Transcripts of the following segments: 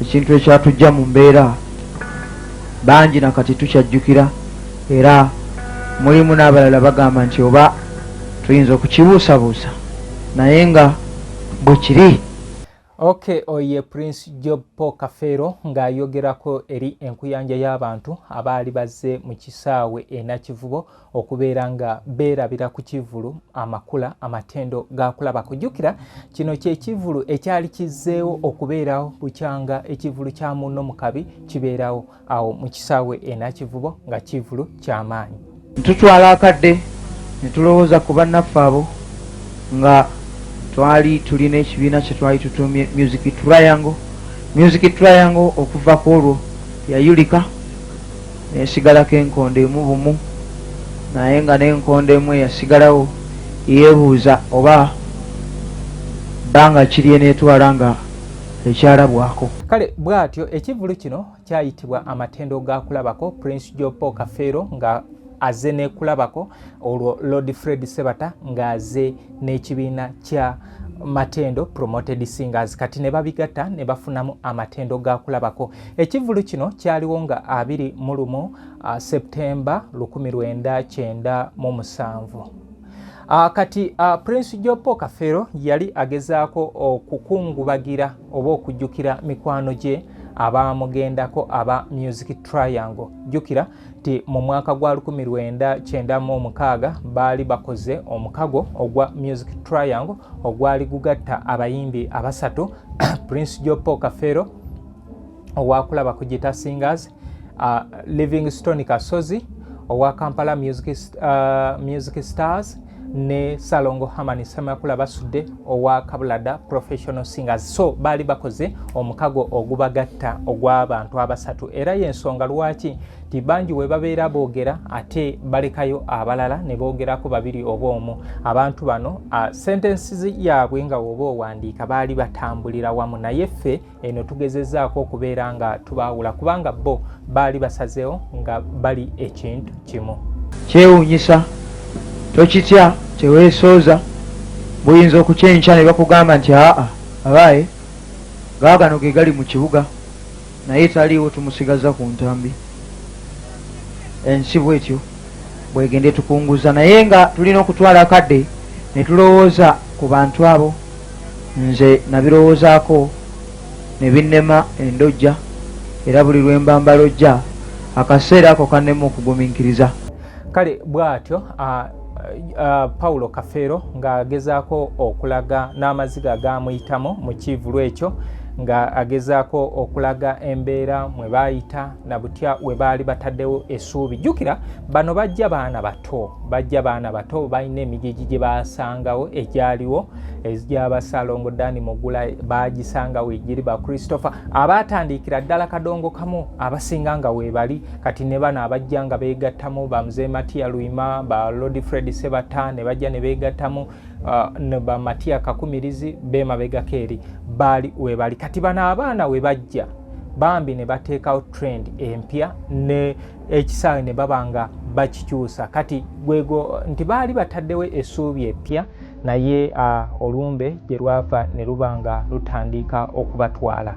ekintu ekyatujja mu mbeera bangi na kati tukyajjukira era mulimu n'abalala bagamba nti oba tuyinza okukibuusabuusa naye nga bwe kiri ok oye prince job paul kafeero ng'ayogerako eri enkuyanja y'abantu abaali bazze mu kisaawe enakivubo okubeera nga beerabira ku kivvulu amakula amatendo gaakulaba kujjukira kino kyekivvulu ekyali kizzeewo okubeerawo bukyanga ekivvulu kya munno mu kabi kibeerawo awo mu kisaawe enakivubo nga kivvulu ky'amaanyi tutwala akadde ne tulowooza ku bannaffe abo nga twali tulina ekibiina kye twali tutumye music triangle music triangle okuva ku olwo yayulika nesigalako enkondo emu bumu naye nga nenkondo emu eyasigalawo yebuuza oba bbanga kiri enetwala nga ekyalabwako. Kale bwatyo ekivulu kino kyayitibwa amatendo ga kulabako Prince Joe Paul Kafeero nga aze nekulabako olwo Lord Fred Sebata nga aze n'ekibiina kya matendo promoted singers kati ne babigatta ne bafunamu amatendo ga kulabako Ekivvulu kino kyaliwo nga abiri mu lumu uh, Septemba lukumi lwenda kyenda mu musanvu. Uh, kati uh, Prince Jopo Kafero yali agezaako okukungubagira uh, oba okujjukira mikwano gye abaamugendako aba Music Triangle. Jjukira nti mu mwaka gwa 1996 baali bakoze omukago ogwa music triangle ogwali gugatta abayimbi abasatu prince jopo kafero owakulaba ku gita singers uh, livingstone kasozi owa kampala music, uh, music stars ne salongo hamani semakula basudde owa kabulada professional singers so baali bakoze omukago ogubagatta ogw'abantu abasatu era y'ensonga lwaki nti bangi we babeera boogera ate balekayo abalala ne boogerako babiri oba omu abantu bano sentensi yaabwe nga woba owandiika baali batambulira wamu naye ffe eno tugezezaako okubeera nga tubaawula kubanga bo baali basazeewo nga bali ekintu kimu kyewuunyisa tokitya teweesooza buyinza okukyenkya ne bakugamba nti aa abaaye gaagano ge gali mu kibuga naye taliiwo tumusigaza ku ntambi ensi bwetyo bwegenda etukunguza naye nga tulina okutwala akadde ne tulowooza ku bantu abo nze nabirowoozaako ne binnema endojja era buli lwe mba mbalojja akaseera ako kannema okugumiikiriza kale bw'atyo pawulo kafeero ng'agezaako okulaga n'amaziga gaamuyitamu mu kiivulu ekyo ng'agezaako okulaga embeera mwe baayita na butya we baali bataddewo essuubi jjukira bano bajja baana bato bajja baana bato balina emigigi gye basangawo egyaliwo egyabasalongo dani mugula bagisangawo egiri ba christopher abaatandiikira ddala kadongo kamu abasinga nga weebali kati ne bano abajja nga beegattamu bamzee matiya luima ba lodi fred sebata ne bajja ne beegattamu uh, ne ba Matia Kakumirizi bemabegako eri baali webali kati bano abaana we bajja bambi ne bateekawo trend empya ne ekisaawe ne baba nga bakikyusa kati gwego nti baali bataddewo essuubi eppya naye uh, olumbe gye lwava ne luba nga lutandika okubatwala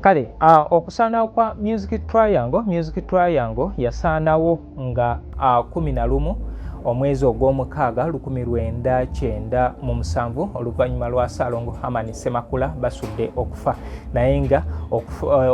kale uh, okusaanawo kwa music triangle music triangle yasaanawo nga uh, kumi na lumu omwezi ogw'omukaaga lukumi lwenda kyenda mu musanvu oluvannyuma lwa saalongo hamani semakula basudde okufa naye nga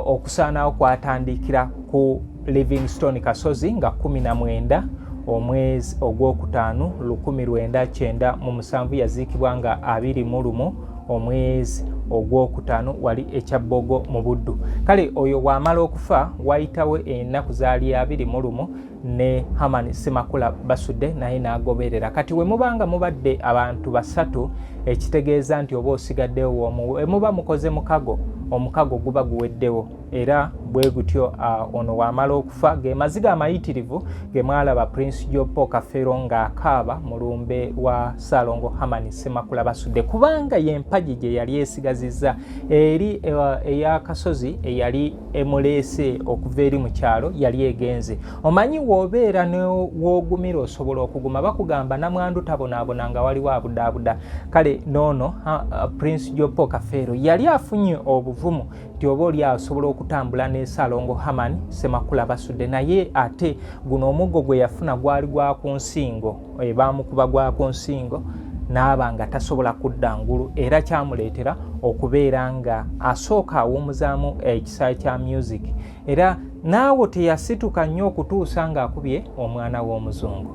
okusaanawo kwatandikira ku Livingstone Kasozi nga 19 omwezi ogwokutaano 1997 yaziikibwa nga 21 omwezi ogwokutaano wali ekyabbogo mu buddu kale oyo waamala okufa wayitawo ennaku zaali abiri mu lumu ne hamani semakula basudde naye n'agoberera kati we muba nga mubadde abantu basatu ekitegeeza nti oba osigaddewo woomu we muba mukoze mukago omukago guba guweddewo era bwe gutyo uh, ono wamala okufa ge maziga amayitirivu ge mwalaba prince jopo kafero ng'akaaba mu lumbe wa saalongo hamani semakula basudde kubanga y'empagi gye yali esigazizza eri uh, ey'akasozi eyali emuleese okuva eri mu kyalo yali egenze omanyi w'obeera new'ogumira osobola okuguma bakugamba namwandu tabonaabona nga waliwo abudaabuda kale noono uh, prince jopo kafero yali afunye obuvumu nti oba oli asobola okutambula ne salongo haman semakula basudde naye ate guno omuggo gwe yafuna gwali gwa ku nsingo eh, baamukuba gwa ku nsingo n'aba nga tasobola kudda ngulu era kyamuleetera okubeera nga asooka awuumuzaamu ekisaayi kya music era naawo teyasituka nnyo okutuusa ng'akubye omwana w'omuzungu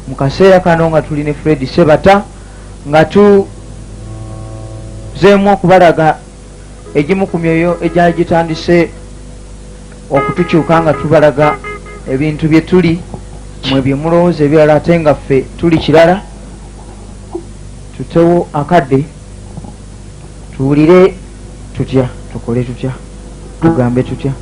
mu kaseera kano nga tuli ne fred sebata nga tuzeemu okubalaga egimu ku myoyo egyali gitandise okutukyuka nga tubalaga ebintu bye tuli mwe bye mulowooza ebirala ate nga ffe tuli kirala tutewo akadde tuwulire tutya tukole tutya tugambe tutya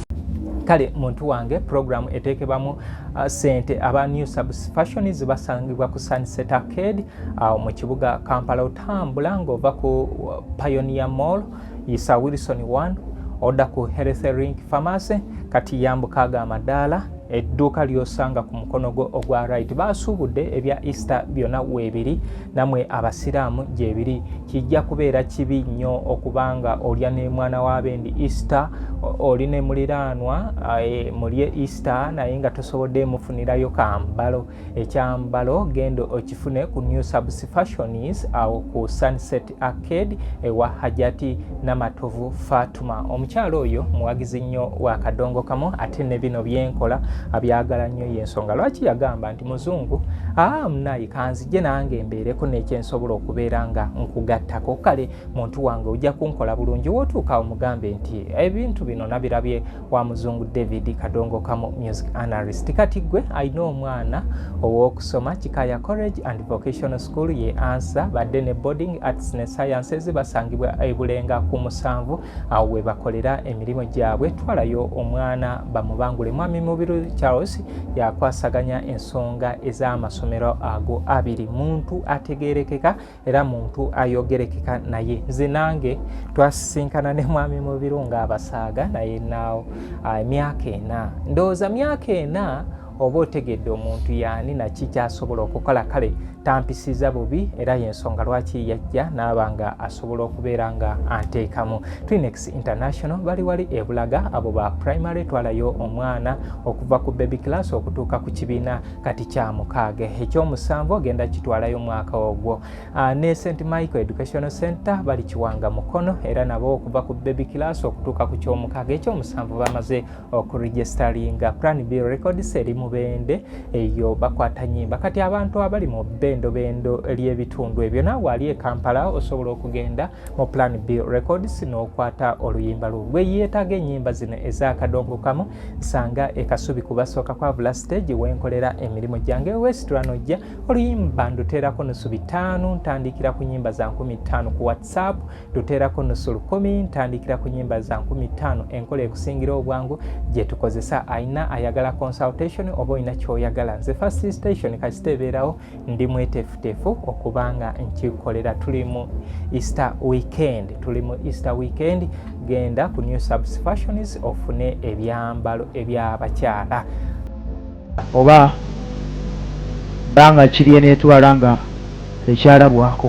kale muntu wange puroguramu eteekebamu uh, sente aba new subsfashion zibasangibwa ku sunset arcade awo uh, mu kibuga kampala otambula ng'ova ku uh, pioneer mall yisa wilson 1 odda ku health rink pharmacy kati yambuka ago amadaala edduuka lyosanga ku mukono gwo ogwa right baasuubudde ebya easter byonna weebiri namwe abasiraamu gyebiri kijja kubeera kibi nnyo okuba nga olya ne mwana w'abendi easter oli ne muliraanwa eh, mulye easter naye nga tosobodde mufunirayo kambalo ekyambalo genda okifune ku new subs fashions awo ku sunset arcade ewa hajati namatovu fatuma omukyalo oyo muwagizi nnyo wa kadongo kamu ate ne bino byenkola abyagala nnyo yensonga lwaki yagamba nti muzungu aa ah, munayi kanzije nange mbeereko nekyensobola okubeera nga nkugattako kale muntu wange ojja kunkola bulungi wotuuka omugambe nti ebintu bino nabirabye wa muzungu david kadongo kamu music analyst kati gwe alina omwana ow'okusoma kikaya college and vocational school ye ansa badde ne boarding arts ne sciences basangibwa ebulenga ku musanvu awo we bakolera emirimu gyabwe twalayo omwana bamubangule mwami mubiru charles yakwasaganya ensonga ez'amasomero ago abiri muntu ategerekeka era muntu ayogerekeka naye nze nange twasisinkana ne mwami mubiru nga abasaaga naye naawo ah, emyaka ena ndowooza myaka ena oba otegedde omuntu yaani naki kyasobola okukola kale tampisiza bubi era yensonga lwaki yajja naaba nga asobola okubeera nga anteekamu twinex international bali wali ebulaga abo ba primary twalayo omwana okuva ku baby class okutuuka ku kibiina kati kya mukaaga ekyomusanvu ogenda kitwalayo mwaka ogwo ah, ne st michael educational center bali kiwanga mukono era nabo okuva ku baby class okutuuka ku kyomukaaga ekyomusanvu bamaze okuregistaringa plan b records eri mubende eyo bakwata nyimba kati abantu abali mu bendobendo ly'ebitundu ebyo naawe ali ekampala osobola okugenda mu plan b records n'okwata oluyimba lwo gwe yeetaaga ennyimba zino ezakadongokamu nsanga ekasubi kubasooka kwavula stage wenkolera emirimu gyange wesitula nojja oluyimba nduteerako nusu bitaano ntandikira ku nyimba za nkumi ttaano ku whatsapp nduteerako nusu lukumi ntandikira ku nyimba za nkumi ttaano enkola ekusingira obwangu gye tukozesa ayina ayagala consultation oba olina kyoyagala nze first station kasita ebeerawo ndi mwetefutefu okuba nga nkikolera tuli mu easter weekend tuli mu easter weekend genda ku new subs fashions ofune ebyambalo ebyabakyala oba banga kirye netwala nga ekyalabwako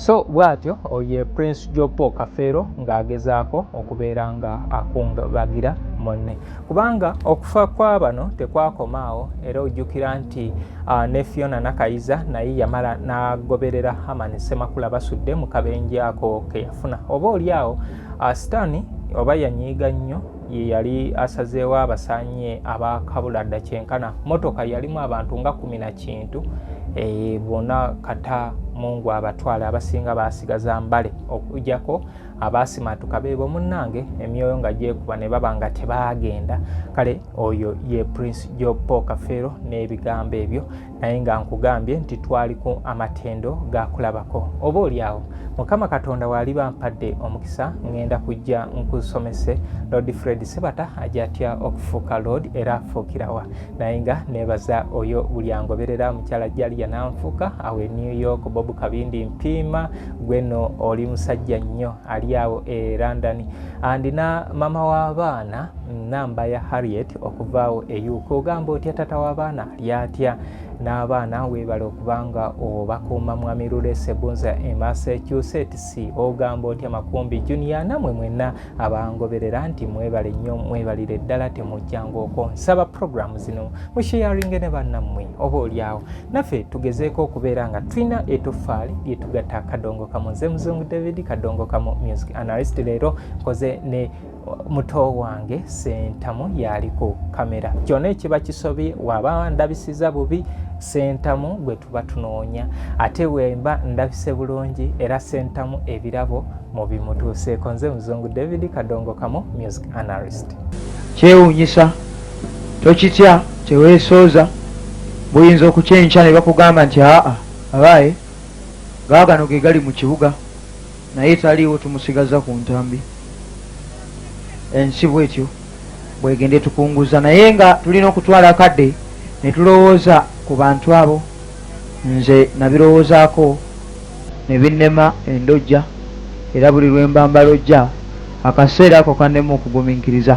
so bwatyo oye prince jopo kafeero ng'agezaako okubeera nga akungabagira munne kubanga okufa kwa bano tekwakomaawo era ojjukira nti uh, ne fiona nakayiza naye yamala n'agoberera haman semakula basudde mu kabenje ako ke yafuna oba oli awo uh, sitaani oba yanyiiga nnyo ye yali asazeewo abasanye abakabula dda kyenkana motoka yalimu abantu nga kumi na kintu eh, bona kata mungu abatwale abasinga basigaza mbale okujako abasimatuka bebo munange emyoyo nga gyekuba ne baba nga tebagenda kale oyo ye prince jopo kafeero n'ebigambo ebyo naye nga nkugambye nti twali ku amatendo ga kulabako oba olyawo mukama katonda waali bampadde omukisa ŋŋenda kujja nkusomese lord fred sebata ajatya okufuuka lord era afuukirawa naye nga nebaza oyo buli angoberera mukyala jali yananfuuka awe new york bob kabindi mpiima gweno oli musajja nnyo ali awo e london andina mama w'abaana namba ya harriet okuvaawo e uk ogamba otya tata w'abaana lyatya n'abaana weebale okubanga obakuuma mwami lule sebunza e massachusetts ogamba otya makumbi junior namwe mwenna abangoberera nti mwebale nnyo mwebalire ddala temujjangooko nsaba puroguramu zino musheyaringe ne bannammwe oba olyawo naffe tugezeeko okubeera nga tulina etoffaali lyetugatta kadongo kamu nze muzungu david kadongo kamu music analyst leero nkoze ne muto wange sentamu yaali ku kamera kyona ekiba kisobye waba ndabisiza bubi sentamu gwe tuba tunoonya ate wemba ndabise bulungi era sentamu ebirabo mu bimutuuseeko nze muzungu david kadongo kamu music analyst kyewunyisa tokitya teweesooza buyinza okukyenkya ne bakugamba nti aa abaaye gaagano ge gali mu kibuga naye taliiwo tumusigaza ku ntambi ensi bwetyo bwegende tukunguza naye nga tulina okutwala akadde ne tulowooza ku bantu abo nze nabirowoozaako ne binnema endojja era buli lwe mba mbalojja akaseera ako kannema okugumiikiriza